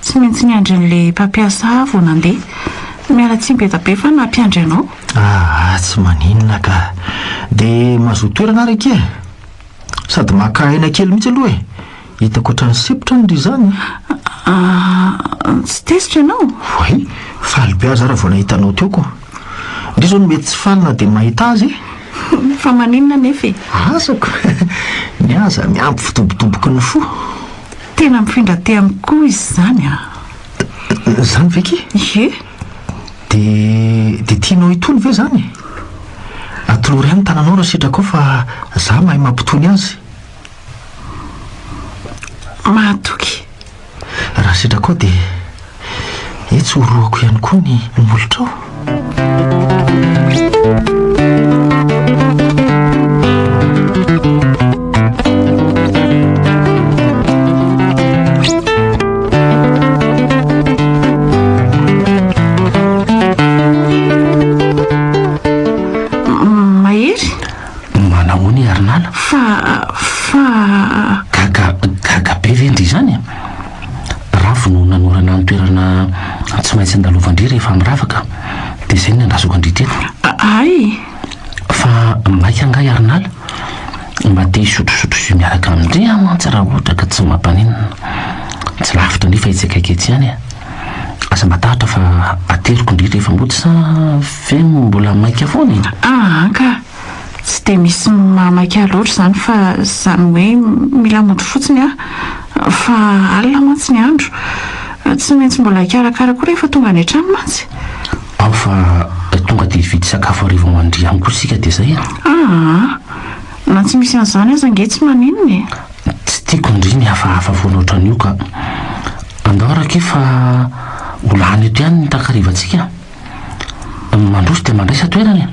Tsy maintsy niandry an'ilay mpampiasa ahy vao nandeha. Miala tsiny be dia be fa nampiandry anao. Aa tsy maninona ka. Dia mazoa toerana ary akia e. Sady maka aina kely mihitsy aloha e. Hitako ohatran'ny sepotra ny ry izany a. Aa tsy tezitra ianao? Oay, faly be aza aho raha vao nahita anao teo ko. Ndry izao no mety tsy faly na dia mahita azy e. Fa maninona anefa e? Azako. Ny ahy aza miampy fidobodoboky ny fo. Tena mifindra aty amiko koa izy izany a! Izany ve ki? Ie! Dia, dia tianao hitony ve izany e? Atolory ihany ny tananao raha sitrakao fa izaho mahay mampitony azy. Mahatoky. Raha sitrakao dia. Etsy horohako ihany koa ny molotrao. Mahery? Manahoana i Harinala? Fa, fa. Gaga, gaga be ve ndry izany? Bravo no nanorana ny toerana tsy maintsy andalovan-dry rehefa miravaka, dia izay no niandrasako-ndry teto. Aay! Fa maika angaha i Arnala? Mba te hisotrosotro jus miaraka amin-dry aho mantsy raha ohatra ka tsy mampaninona. Tsy lavitra ndry fa etsy akaiky etsy ihany e! Aza matahotra fa ateriko ndry rehefa mody sa ve mbola maika foana e? Aa ka! Tsy dia misy mamaky ahy loatra izany fa izany hoe mila mody fotsiny aho fa alina mantsy ny andro. Tsy maintsy mbola hikarakara koa rehefa tonga any an-trano mantsy. Ao fa tonga dia hividy sakafo hariva ho an-dry ihany koa isika dia izay an! Aa! Na tsy misy an'izany aza ange tsy maninona e! Tsy tiako ndry ny hafahafa foana ohatran'io ka! Andao raha kivy fa ho lany eto ihany ny takarivantsika. Mandroso dia mandraisa toerana e!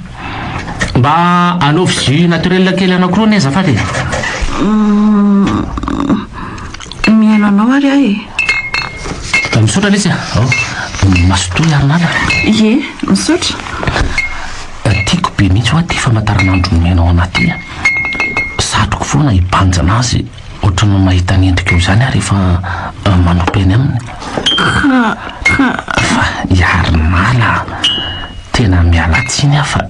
Mba anaovy jus naturel kely anankiroa anie azafady e! Humm. Mihaino anao ary aho e! Misaotra lesy a! Ao, mazotoa hiaro an'ala. Ie, misaotra. Tiako be mihitsy hoa ity famantaranandro mihaino ao anaty ity a! Satriko foana hibanjina azy. Ohatry ny mahita ny endriko eo izany aho rehefa manopy eny aminy. Ka, ka, fa i Harinala a! Tena miala tsiny aho fa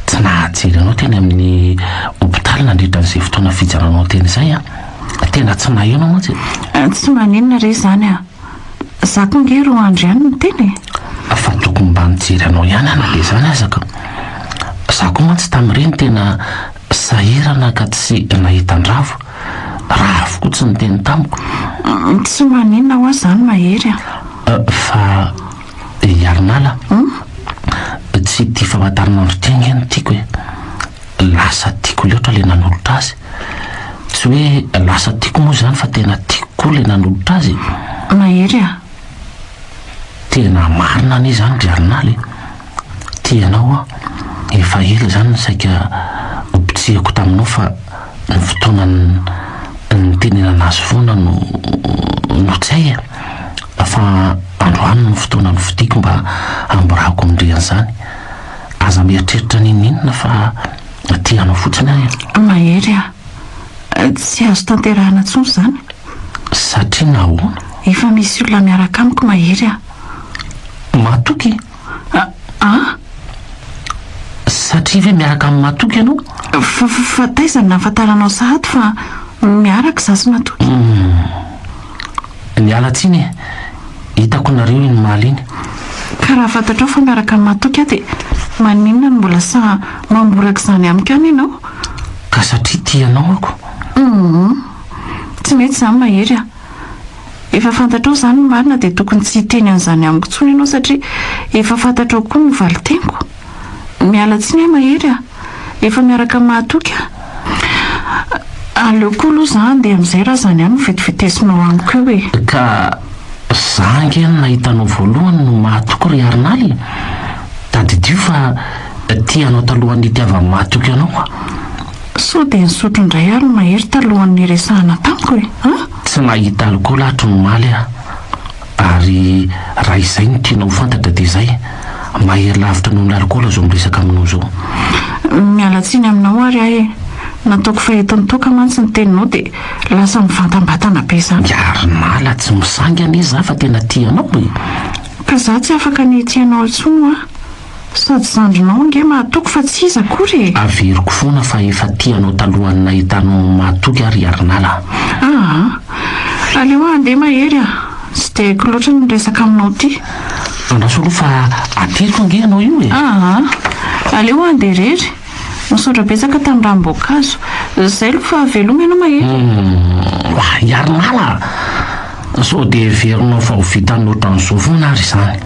tsy nahajery anao teny amin'ny hopitaly nandritra an'izay fotoana fijaranao teny izay an! Tena tsy naheno aho mantsy e! Tsy maninona re izany a! Za koa ange roa andro ihany no teny e! Fa tokony mba nijery anao ihany aho na dia izany aza ka! Za koa mantsy tamin'ireny tena. Sahirana ka tsy nahita an-dravo raha avokoa tsy niteny tamiko. Tsy maninona hoa izany Mahery a! Fa i Iharinala tsy tia famantaranandro ity ange no tiako e! Lasa tiako loatra ilay nanolotra azy. Tsy hoe lasa tiako moa izany fa tena tiako koa ilay nanolotra azy e! Mahery a! Tena marina anie izany ry Iharinala e! Tia anao aho, efa ela izany no saika nopitsihako taminao fa ny fotoana nitenenana azy foana no no tsy hay e! Fa androany no fotoana nofidiko mba hamborahako amin-dry an'izany. Aza mieritreritra n'inon'inona fa tia anao fotsiny aho e! Mahery a! Tsy azo tanterahina intsony izany. Satria nahoana? Efa misy olona miaraka amiko Mahery a! Matoky! Aa! Satria ve miaraka amin'i Matoky ianao? Fa taiza no nahafantaranao sahady fa miaraka za sy Matoky? Humm. Miala tsiny e! Hitako nareo iny omaly iny. Ka raha fantatrao fa miaraka amin'i Matoky aho dia maninona no mbola sahy mamboraka izany amiko ihany ianao? Ka satria tia anao ako. Humm. Tsy mety izany mahery a! Efa fantatrao izany ny marina dia tokony tsy hiteny an'izany amiko intsony ianao satria efa fantatrao koa ny valiteniko. Miala tsiny aho mahery a! Efa miaraka amin'ny mahatoky aho. Aleo koa aloha za handeha amin'izay raha izany ihany no vetivetisinao amiko eo e! Ka za ange no nahita anao voalohany no mahatoky ry Arnal e! Tadidio fa tia anao talohan'ny hitiavan'ny mahatoky anao aho. Sao dia nisotro indray ary ny mahery talohan'ny niresahana tamiko e? An? Tsy nahita alikaola hatry ny omaly aho, ary raha izay no tianao ho fantatra dia izay, mahery lavitra noho ny alikaola izao miresaka aminao izao. Miala tsiny aminao ary aho e! Nataoko fa eto an-toaka mantsy ny teninao dia lasa mivantambatana be za. Miary nala tsy misainga anie za fa tena tia anao e! Ka za tsy afaka ny hitia anao intsony hoa! Sady zandrinao ange mahatoky fa tsy iza akory e! Averiko foana fa efa tia anao talohan'ny nahitanao ny mahatoky aho ry Harinala a! Aa! Aleo handeha Mahery a! Tsy dia haiko loatra ny miresaka aminao ity. Andraso aloha fa ateriko ange ianao io e! Aa! Aleo handeha irery. Misaotra betsaka tamin'ny ranom-boankazo. Zay lo fa veloma ianao mahery e. Mahahiarinala a! Sao dia heverinao fa ho vitan'ny ohatran'izao foana ary izany.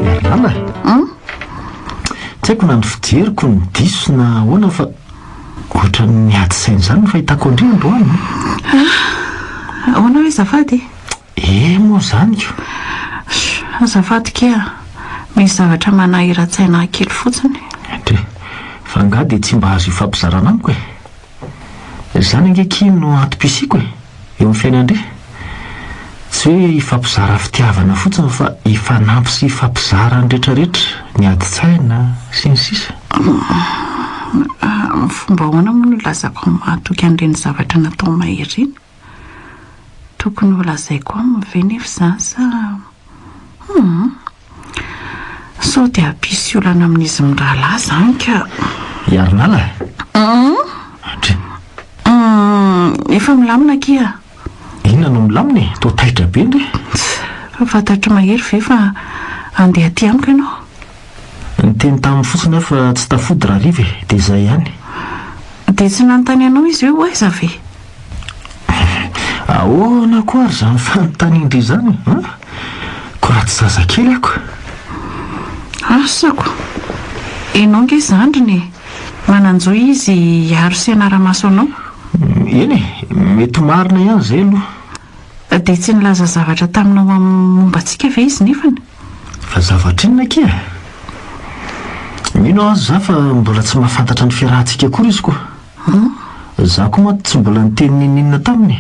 Ry nama a! Tsy haiko na ny fijeriko no diso na ahoana fa ohatran'ny miady saina izany ny fahitako an-dry androany an! Ah! Ahoana hoe azafady e? Eh moa izany ko! Shh! Azafady kee ah! Misy zavatra manahiran-tsaina ahy kely fotsiny. Dry! Fa angaha dia tsy mba azo ifampizarana amiko e? Izany ange kee no antom-pisiako e! eo amin'ny fiainan-dry? Tsy hoe hifampizara fitiavana fotsiny fa hifanampy sy hifampizara ny retraretra, ny adin-tsaina, sy ny sisa. Amin'ny fomba ahoana moa no hilazako amin'ny mahatoky an'ireny zavatra natao may ireny? Tokony holazaiko aminy ve nefa izany sa? Hum. Sao dia hampisy olana amin'izy mirahalahy izany ka. I Arnala? Hum! Hum! Efa milamina akia a! Inona no milamina e? Toa taitra be nge! Fa fantatr'i Mahery ve fa handeha aty amiko ianao? Niteny taminy fotsiny aho fa tsy tafody Rariva e, dia izay ihany. Dia tsy nanontany anao izy hoe ho aiza ve? Ahoana koa ary izany fanontanian-dry izany an? Koa raha tsy zazakely aho ka. Asako! Ianao ange zandriny e! Manan-jo izy hiaro sy hanara-maso anao. Eny e, mety marina ihany izay aloha. Dia tsy nilaza zavatra taminao momba antsika ve izy nefany? Fa zavatra inona akia e? Mino aho aza izaho fa mbola tsy mahafantatra ny fiarahantsika akory izy koa. An? Za ko mantsy tsy mbola niteny n'inon'inona taminy e!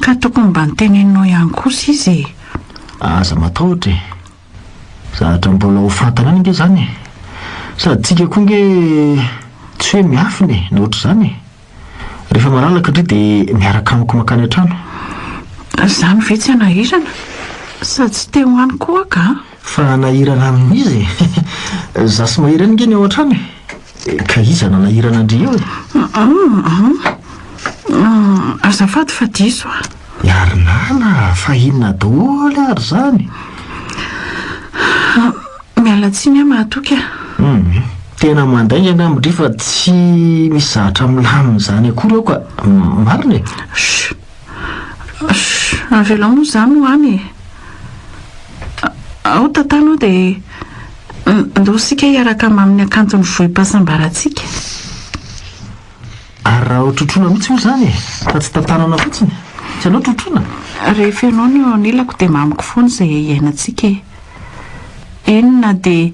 Ka tokony mba noteneninao ihany kosa izy e! Aza matahotra e! Zavatra mbola ho fantany any ange izany e! Sady tsika koa ange tsy hoe miafina e, na ohatr'izany e! Rehefa malalaka ndry dia miaraka amiko mankany an-trano. Izany ve tsy hanahirana? Sady tsy te ho any koa aho ka! Fa hanahirana amin'iza e! Za sy Mahery any ange ny ao an-trano e! Ka iza nanahirana an-dry eo e? Hum-hum-hum. Azafady fa diso a. Iharinala, fa inona daholo ary izany? Miala tsiny aho mahatoky a. Hum. Tena mandainga ny amin-dry fa tsy misy zavatra milamina izany akory ao ka. Marina e? Chut. Avelao moa izany ho any e! Ao tantano ao dia ndao isika hiaraka hamaha amin'ny hakanton'ny vohim-pahasambarantsika. Ary raha hotrotroina mihitsy moa izany e! Fa tsy tantanana fotsiny. Tsy anao trotroina? Rehefa ianao no eo anilako dia mamiko foana izay hiainantsika e! Eny na dia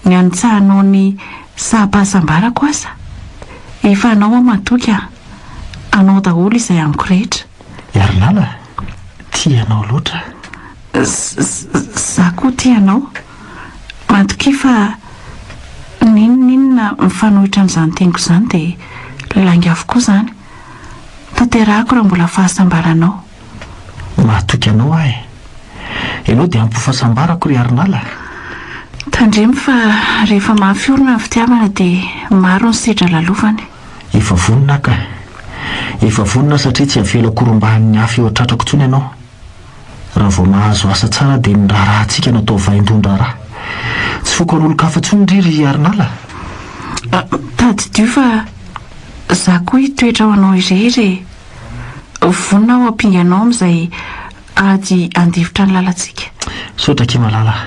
ny hanitsahanao ny saham-pahasambarako aza. Efa anao aho matoky an! Anao daholo izay amiko rehetra. Iharilala a! Tia anao loatra aho. Za koa tia anao. Matokia fa n'inon'inona mifanohitra amin'izany teniko izany dia lainga avokoa izany. Tanterahako raha mbola fahasambaranao. Mahatoky anao aho e! Ianao dia ampy fahasambarako ry Iharilala a! Tandremo fa rehefa mafy orina ny fitiavana dia maro ny sedra lalovany. Efa vonona aho kah! Efa vonona aho satria tsy havela korombahin'ny hafa eo an-tratrako intsony ianao. Raha vao mahazo asa tsara dia ny raharahantsika no atao vaindohan-draharaha. Tsy foko an'olon-kafa intsony ndry ry Harinala a! Tadidio fa izaho koa hitoetra ho anao irery e! Vonona aho hampinga anao amin'izay ady handifotra ny lalantsika. Misaotra akia malala a!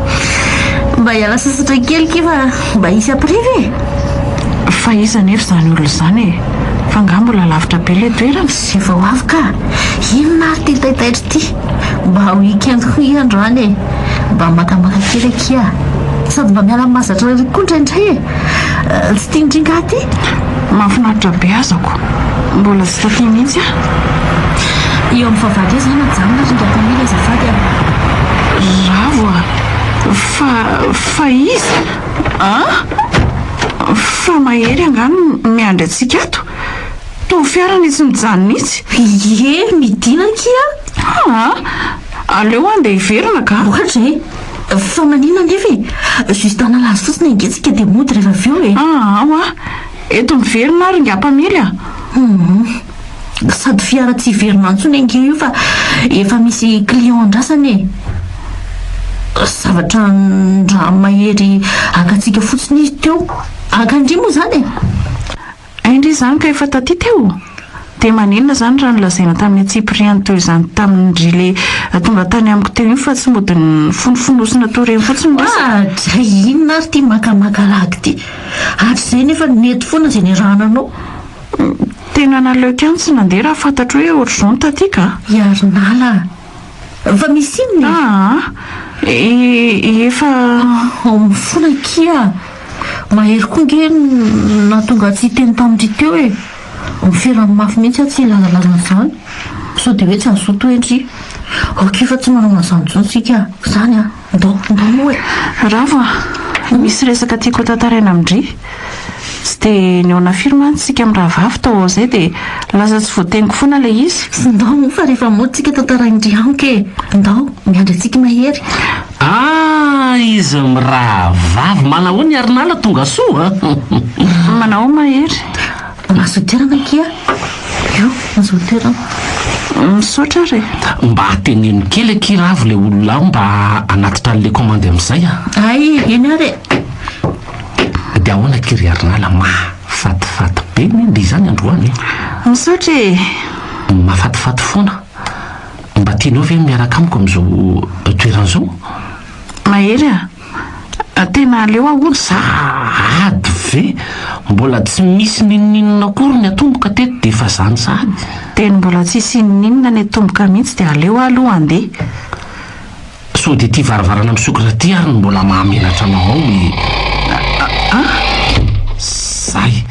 Mba hiala sasatra kely kay fa mba hisy apiriva e! Fa iza anefa izany olona izany e? Fa angaha mbola lavitra be ilay toerana? Izay vao avy ka! Inona ary ity taitaitra ity? Mba ho week-end koa iha androany e! Mba makamaka kely akia! Sady mba miala mahazatra rary koa indraindray e! Tsy tian'dry ngaha ty? Mahafinaritra be aza ko. Mbola tsy taty mihitsy aho. Eo amin'ny fahavalo eo zany ajanona ato Tonton Milo azafady a. Ravo a! Fa fa iza? An! Fa mahery angaha no miandry antsika ato? Toa fiara ny tsy mijanona mihitsy. Ie midina akia a! An! Aleo handeha hiverina ka. Ohatra e! Fa maninona anefa e? Juste hanala azy fotsiny ange tsika dia mody rehefa avy eo e! Aa hoa! Eto miverina ary nga mpamily a! Humm. Sady fiara tsy hiverina intsony ange io fa efa misy client andrasana e! Zavatra an-dRahamahery haka antsika fotsiny izy teo. Haka an-dry moa izany e! Hay ndry izany ka efa taty teo? Dia maninona izany raha nolazaina tamin'i Antsipiriano teo izany tamin dry le tonga tany amiko teo iny fa tsy mody nifonofonosina toa ireny fotsiny ny resaka? Ah! Dray inona ary ity makamaka lagy ity? Hatrizay nefa nety foana izay niarahananao. Tena naleoko ihany tsy nandeha raha fantatro hoe ohatr'izao ny taty ka! I Harinala a! Efa misy inona e? Aa e efa ao amin'ny folo akia a! Mahery koa ange no nahatonga ahy tsy hiteny tamin'ity teo e! Miferan'ny mafy mihitsy aho tsy hilazalaza an'izany sao dia hoe tsy azo zoto hoe ndry! Ok fa tsy manao an'izany intsony tsika a! Izany a! Ndoo ndoo e! Ravo a! Misy resaka tiako hotantaraina amin-dry. Tsy dia nihaona firy mantsy isika mirahavavy tao ao izay dia lasa tsy voateniko foana ilay izy. Ndao moa fa rehefa mody tsika tantarain-dry amiko e! Ndao, miandry antsika i Mahery. Ah! Izy mirahavavy! Manahoana i Harinala, tonga soa? Manahoa Mahery? Mahazo toerana akia io mahazo toerana. Misaotra ary e. Mba teneno kely akia Ravo le olona ao mba hanatitra anle commande amizay a. Ay eny ary e. De ahoana akia ry Harinala mahafatifaty be ny le izany androany e. Misaotra e. Mahafatifaty foana. Mba tianao ve ny miaraka amiko amizao toerana zao? Mahery a. Tena aleo ahoana za ady ve? Mbola tsy misy n'inon'inona akory ny atomboka teto dia efa zany sahady. Teny mbola tsisy inon'inona ny atomboka mihitsy dia aleo aloha andeha. Sao dia ity varavarana misokatra ity ary no mbola mahamenatra anao ao e! Aa! Zay!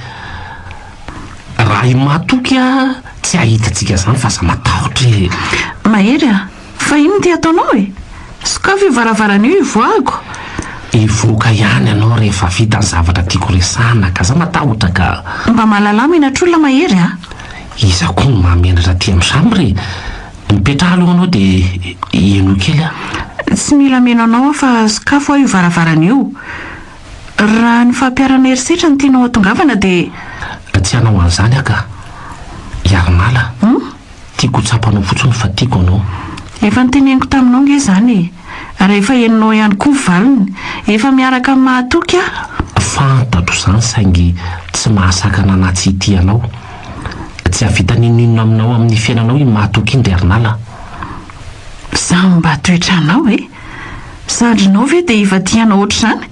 Raha i Matoky tsy hahita antsika zany fa aza matahotra e! Mahery a! Fa inona ity ataonao e? Sokafy io varavarana io hivoahako. Hivoaka ihany ianao rehefa vita ny zavatra tiako resahana ka za matahotra ka. Mba mahalala menatr'olona Mahery a! Iza koa no mahamenatra aty amin'i chambre e? Mipetraha aloha anao dia henoy kely aho. Tsy mila meno anao aho fa sokafo aho io varavarana io. Raha ny fampiharana herisetra no tianao hatongavana dia. Tsy hanao an'izany aho ka. Hiara-mala. Humm. Tiako ho tsapanao fotsiny fa tiako anao. Efa noteneniko taminao nge izany e! Rehefa henonao ihany koa ny valiny. Efa miaraka amin'ny mahatoky aho. Fantatro izany saingy tsy mahasakana na tsy hitia anao. Tsy hahavita n'inon'inona aminao amin'ny fiainanao iny mahatoky iny ry Arnala. Izaho no mba toetranao e! Zandrinao ve dia efa tia anao ohatr'izany?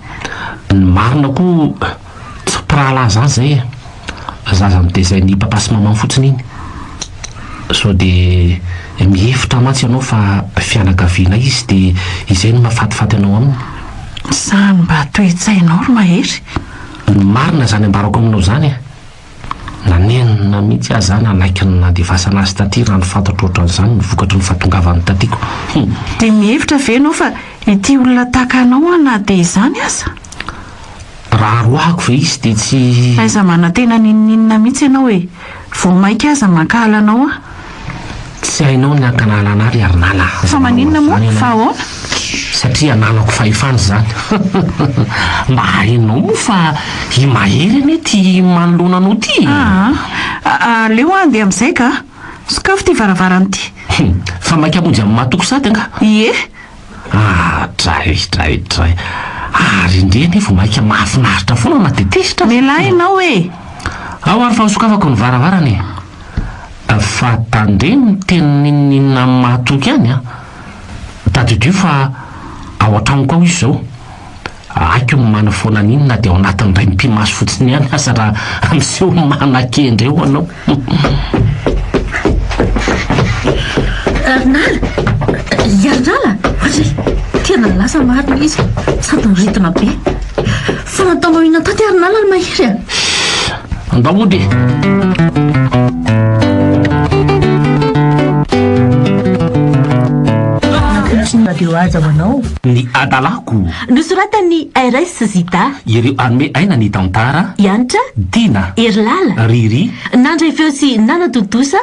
Ny marina koa. Tsy mpirahalahy za zay e! Zaza notezain'i papa sy maman fotsiny iny! Sao dia mihevitra mantsy ianao fa fianakavianay izy dia izay no mahafatifaty anao aminy? Sa mba toe-tsainao ry Mahery? Ny marina izany ambarako aminao izany e! Nanenina mihitsy aho izany, hanaiky ny nandefasana azy taty raha ny fantatro ohatran'izany ny vokatry ny fahatongavany tatiko. Hum. Dia mihevitra ve ianao fa ity olona tahaka anao an na dia izany aza? Raha aroahako ve izy dia tsy. Aiza manantena n'inon'inona mihitsy ianao e! Vao mainka aza mankahala anao aho. Tsy hainao ny hankahalana ana ry Harinala aza Fa maninona moa? Fa ahoana? Satria ananako fahefana izany Mba hainao moa fa i Mahery anie tia manoloana anao ity e! Aa! Aleo aho handeha amin'izay ka! Sokafy ity varavarana ity! Hum! Fa maika mody amin'ny mahatoky sady angaha? Ie! Aa! Dray! Dray! Dray! Ary indrey anie vao maika mahafinaritra foana na dia tezitra aza! Mialà ianao e! Ao ary fa ho sokafako ny varavarana e! Fa tandremo miteny n'inon'inona amin'ny mahatoky any an! Tadidio fa ao an-tranoko ao izy izao. Haiko ny manafoana an'iny na dia ao anatin'ny raim-pimaso fotsiny ihany aza raha miseho manakendry eo ianao. Ravnala! I Ravnala! Hoy izy. Tena lasa marina izy. Sady niridona be. Fa nataonao inona taty ary nala ry Mahery a? Andao mody Nampiditry ny radio Haja ho anao. Ny adalako. Nosoratan'i RS Zita. Ireo hanome aina ny tantara. Yantra. Dina. Herilala. Riri. Nandray feo sy nanatontosa.